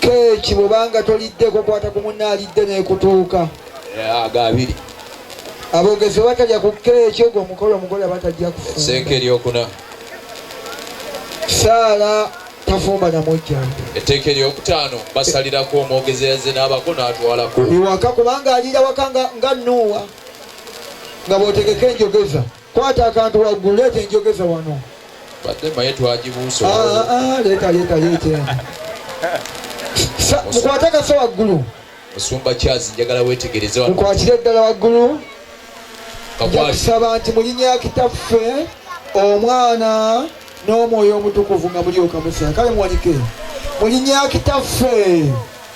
keeki bwobanga toliddeko kwata ku munna alidde nekutuuka agabiri abogezi batalya ku keeki ogwo omukolo omugole batajja kusenka eryokuna saala tafumba namujja etteeka eryokutaano basalirako omwogezi yazze n'abako n'atwalako iwaka kubanga aliira waka nga nuuwa nga bwotegeka enjogeza Kwata akantu waggulu, leeta enjogeza wano. Badde maye twagibuusa. Ah, ah, ah, leeta, leeta, leeta. Mukwate kaso waggulu. Musumba Charles njagala weetegereze wano. Mukwatire ddala waggulu. Njakusaba nti mulinya kitaffe omwana n'omwoyo omutukuvu nga mulyoka musa kale muwanike mulinya kitaffe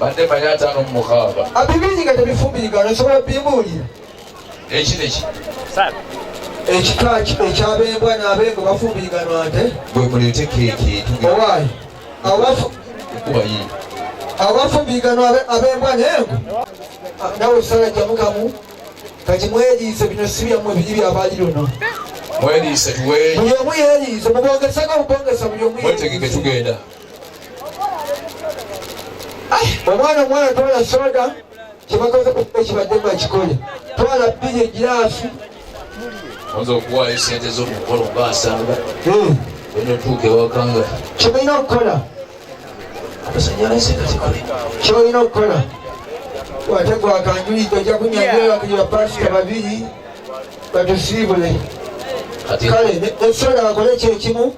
badde mali ataano mu mukaaga abibiri nga tebifumbirigana osobola bibuulira eki neki ekika ekyabembwa n'abengo bafumbirigana nte bwe muleete keeki owaayi abafumbirigana abembwa nengo nawe osala jamukamu kati mweriise bino si byammwe biri byabali luno mweriise tuwe buli omu yeriise mubongeseko mubongesa buli omu mwetegeke tugenda omwana omwana twala soda kyebakoze kibadde bakikole twala bbiri egiraafi oza okuwaayo esente zomukolo nga asanga hmm. enotuuka ewaka nga kyebalina okukola amasanyalaze nga zikole kyolina okukola wategwakanjulidde ojja kunyanyula kuyira pasita babiri batusiibule kale ekisobola bakole ekyo ekimu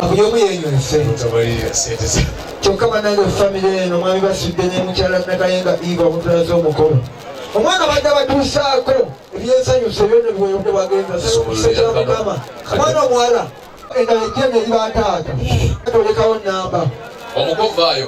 buli omu yenyonse kyokka banange famire eno mwami basudde ne mukyala nakayenga iva omutulaza omukolo omwana badde batuusaako ebyensanyusa ebyona biweyonde bagenza sekyala mukama omwana omuwala endala ejjene eri bataata tolekawo namba omukova ayo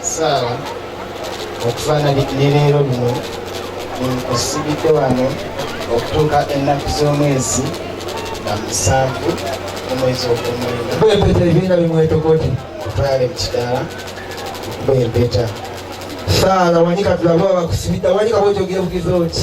saala okufaanana ne leero luno osibidde wano okutuuka ennaku z'omwezi nga musanvu omwezi ogwomwenda bwempeta ebiina bimwetokoti otwale mu kidaala bwempeta saala wanika tulabe wabakusibidda wanika bwekyogebukiza oti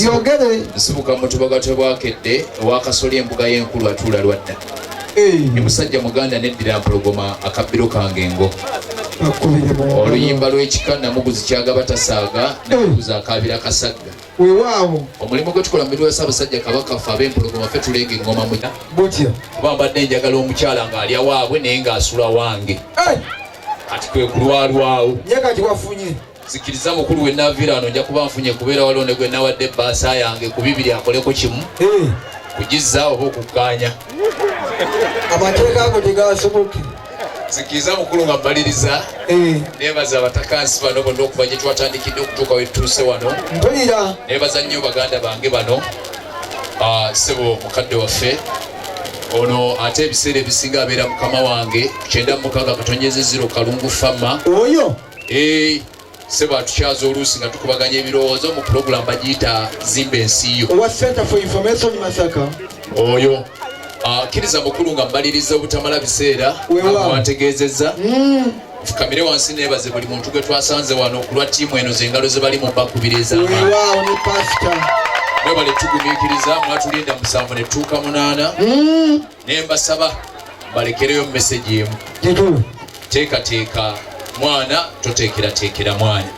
byogere nsibuka mutuba gatwe bwakedde owakasoli embuga y'enkulu atuula lwadda ni musajja muganda neddira mpologoma akabbiro kange engo oluyimba lw'ekika namuguzi kyagaba tasaaga namuguzi akaabira kasagga wewaawo omulimu gwe tukola mubiri wa ssaabasajja kabaka ffe ab'empologoma fe tuleega eŋŋoma muta butya kuba mbadde njagala omukyala ng'alya waabwe naye ng'asula wange kati kwe kulwalwawo ye kati wafunye zikiriza mukulu we navira wano nja kuba nfunye kubeera waliwo ne gwe nawadde ebbaasa yange ku bibiri akoleko kimu eh. kugizza oba okukkaanya amateeka ago tegasoboke zikiriza mukulu nga mbaliriza eh. nebaza abatakansi bano bonna okuva gye twatandikidde okutuuka wetutuuse wano mpulira nebaza nnyo baganda bange bano ah, sebo mukadde waffe ono ate ebiseera ebisinga abeera mukama wange kyenda mukaaga katonyeze ziro kalungu fama oyo Hey, sebo atukyaza oluusi nga tukubaganya ebirowoozo mu pulogulamu bagiyita zimba ensi yo owa center for information masaka oyo akkiriza ah, mukulu nga mmaliriza obutamala biseera wantegeezezza hmm. fukamire wansi nebaze buli muntu gwe twasanze wano okulwa ttiimu eno zengalo ze bali mu bakubira ezamwebale tugumikiriza mwatulinda musanvu netuuka munaana hmm. ne mbasaba balekereyo mesegi emu kituufu teekateeka mwana toteekerateekera mwana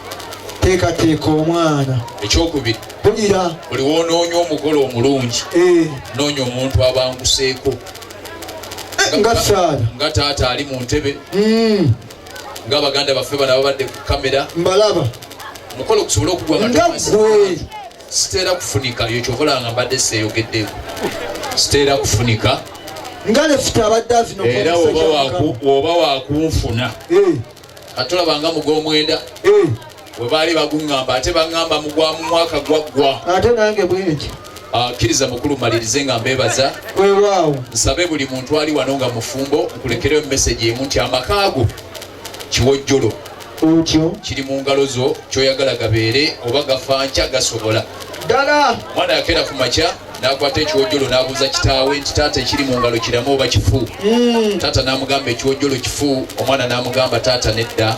teekateeka omwana ekyokubiri bulira buli woonoonya omugole omulungi eh. noonya omuntu abanguseeko eh, nga saala nga taata ali mu ntebe hmm. nga baganda baffe bana babadde ku kamera mbalaba omukolo gusobole okugwa nga gwe siteera kufunika yo kyovolanga mbadde seeyogeddeko siteera kufunika nga lefuta abadde avino era woba wakunfuna eh. ate olabanga mugomwenda eh. we baali baguŋŋamba ate baŋŋamba mugwa mu mwaka gwaggwa ate nange bweki akkiriza ah, mukulu malirize nga mbebaza wewaawo nsabe buli muntu ali wano nga mufumbo nkulekereyo meseji emu nti amakaago kiwojjolo otyo kiri mu ngalo zo kyoyagala gabeere oba gafankya gasobola ddala mwana yakeera ku makya nakwata ekiwojjolo nabuuza kitaawe nti taata ekiri mu ngalo kiramu oba kifu hmm. taata namugamba ekiwojjolo kifu omwana namugamba taata nedda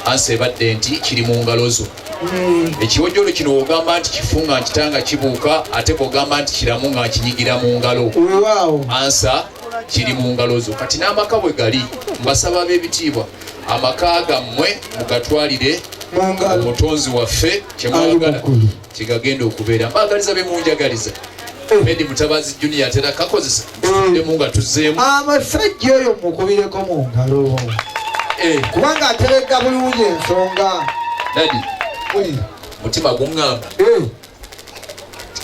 ansa ebadde nti kiri mu ngalo zo hmm. ekiwojjolo kino wogamba nti kifu nga nkitanga kibuuka ate bwogamba nti kiramu nga nkinyigira mu ngalo ansa kiri mu ngalo zo kati n'amaka bwe gali mbasaba ab'ebitiibwa amaka gammwe mugatwalire omutonzi waffe kyemwagala kyegagenda okubeera mbaagaliza be munjagaliza eh. medi mutabazi junior atera kakozesa emu nga tuzeemu amasajja oyo mukubireko mu ngalo eh. kubanga aterega bulungi ensonga dadi mutima guŋŋamba eh.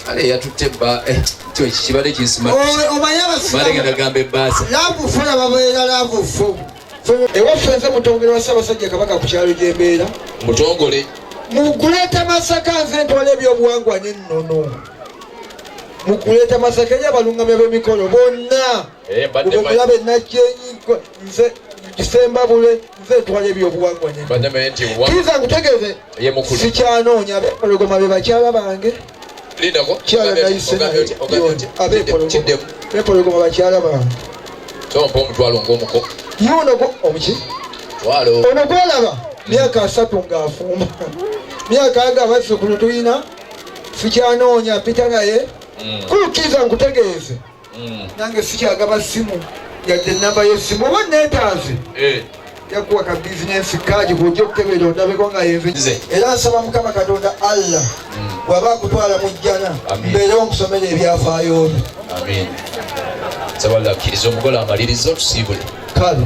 kale yatutte bba eh, kibadde kinsimaalegendagamba ebbaasa laavu fo yababeera laavu fo ewaffe nze mutongole wa ssaabasajja kabaka ku kyalo gyembeera mutongole mukuleeta masaka nze ntwala ebyobuwangwa nennono mukuleeta masaka eri abalungamya b'emikolo bonna eh, kulaba enajjenyi nze kisembabule nze ntwala ebyobuwangwa kiriza nkutegeze sikyanoonya abepologoma be bakyala bange kyala nayiseabepologoma bakyala bange tompa omutwalo ngaomuko yuno omuki ono gwolaba myaka asatu ng'afumba myaka aga abazzukulu tulina sikyanoonya pita naye mm. kulukkiriza nkutegeeze mm. nange sikyagaba simu yadde enamba yesimu oba netaaze eh. yakuwa ka bizinensi kaadi kuja okukebera ondabeko nga yenze era nsaba mukama katonda allah mm. bwaba akutwala mu jjana mbeere omusomera ebyafaayo byo nsaba allah akkiriza omugole amaliriza otusiibule kale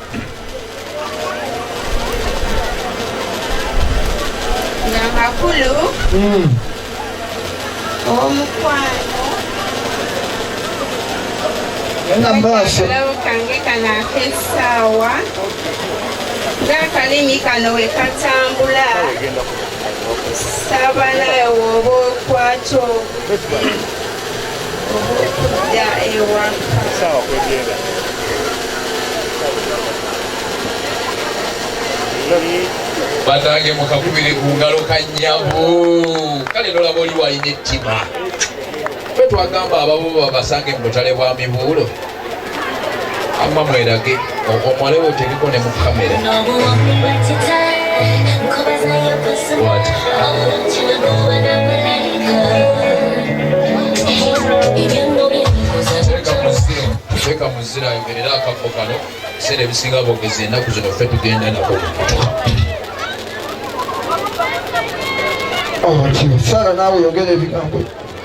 amakulu hmm. omukwano akalabu kange kano ak'essaawa ng'akalimi kano we katambula saba nawe woba okwata okujja ewaka saawa kwegenda banange mukakubire ku ngalo kanyabu kale nolaba oli walina ettima fe twagamba ababuba basange mu butale bwa mibuulo Amma mwerage omwale wo tebiko ne mu kamera. What? Weka muzira yogerera akabbo kano ebiseera ebisinga bogezi enaku zino ffe tugenda nako oh, sara naawe yogera ebigambo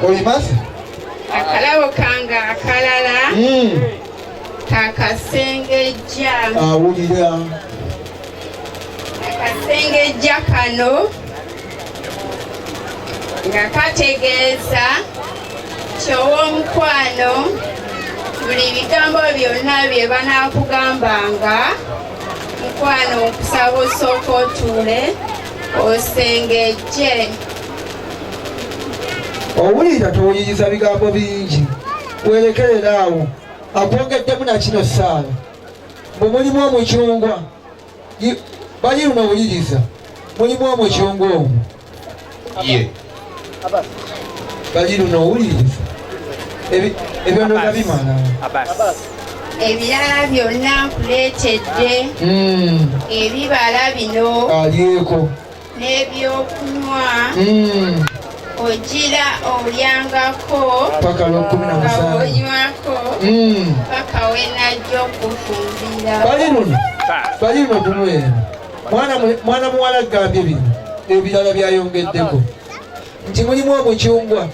olimasi akalabo kange akalala hmm. kakasengejja awulira akasengejja kano nga kategeeza kyow'omukwano buli bigambo byonna bye banaakugambanga mukwano okusaba osooka otuule osengejje owulira towuliriza bigambo bingi werekerera awo akwogeddemu nakino saala bwe mulimu omucungwa bali luno owuliriza mulimu omucungwa omu ye bali luno owuliriza ebyonona bimala ebirala byonna nkuleetedde hmm. ebibala bino alyeko n'ebyokunywa hmm. ogira olyangako paka lwokumi namusangaonywako hmm. paka wenajja okufumbira bali luno bali luno kunwera mwana muwala gambye bino ebirala byayongeddeko nti mulimu omucungwa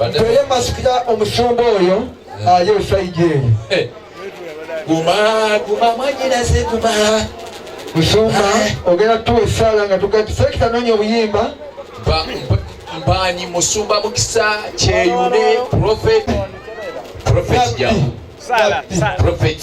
Naye masikira omusumba oyo aye esaidi eyo guma guma mwanyinaze guma musumba ogenda tuwa esaala nga tugakisekita nonya obuyimba mbanyi musumba mukisa kyeyune profet profet jamu profet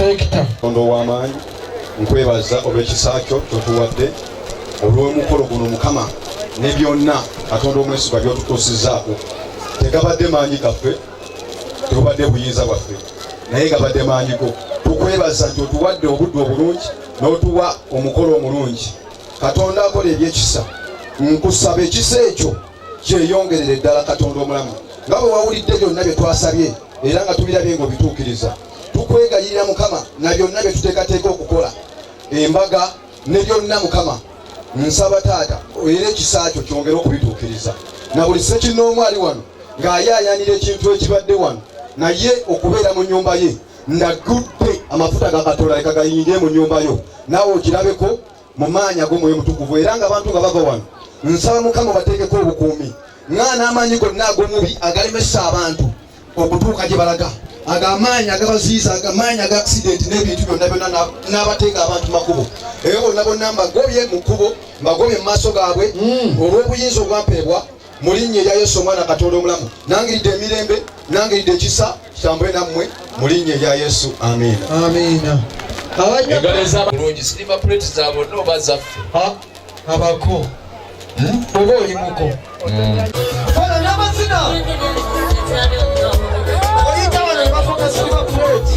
Katonda ow'amaanyi nkwebaza olw'ekisa kyo kyotuwadde olw'omukolo guno mukama ne byonna katonda omwesigwa byotutuusizzaako tegabadde maanyi gaffe tegubadde buyinza bwaffe naye gabadde maanyi go tukwebaza nti otuwadde obudde obulungi n'otuwa omukolo omulungi katonda akola ebyekisa nkusaba ekisa ekyo kyeyongerere ddala katonda omulamu nga bwe wawulidde byonna bye twasabye era nga tubirabye ng'obituukiriza tukwegayirira mukama na byonna bye tuteekateeka okukola embaga ne byonna mukama nsaba taata era ekisa kyo kyongere okubituukiriza na buli sekinnoomu ali wano ng'ayaayanira ekintu ekibadde wano naye okubeera mu nnyumba ye ndagudde amafuta gakatola leka gayingire mu nnyumba yo naawe okirabeko mu maanyi ag'omwoyo mutukuvu era nga abantu nga bava wano nsaba mukama bateekeko obukuumi nga n'amaanyi gonna ag'omubi agalemesa abantu okutuuka gye balaga ago amaanyi agabaziiza amaanyi aga akisidenti n'ebintu byonna byonna n'abateeka abantu makubo eyo bonna bonna mbagobye mu kkubo mbagobye mu maaso gaabwe hmm. olw'obuyinza obwampeebwa mu linnya erya yesu omwana katonda omulamu nangiridde emirembe nangiridde ekisa kitambule nammwe mu linnya erya yesu amiina amiina bulungi silima puleti za bonna oba zaffe abako hmm? oba olimuko hmm. namazina oyita wano nebafuka silima puleti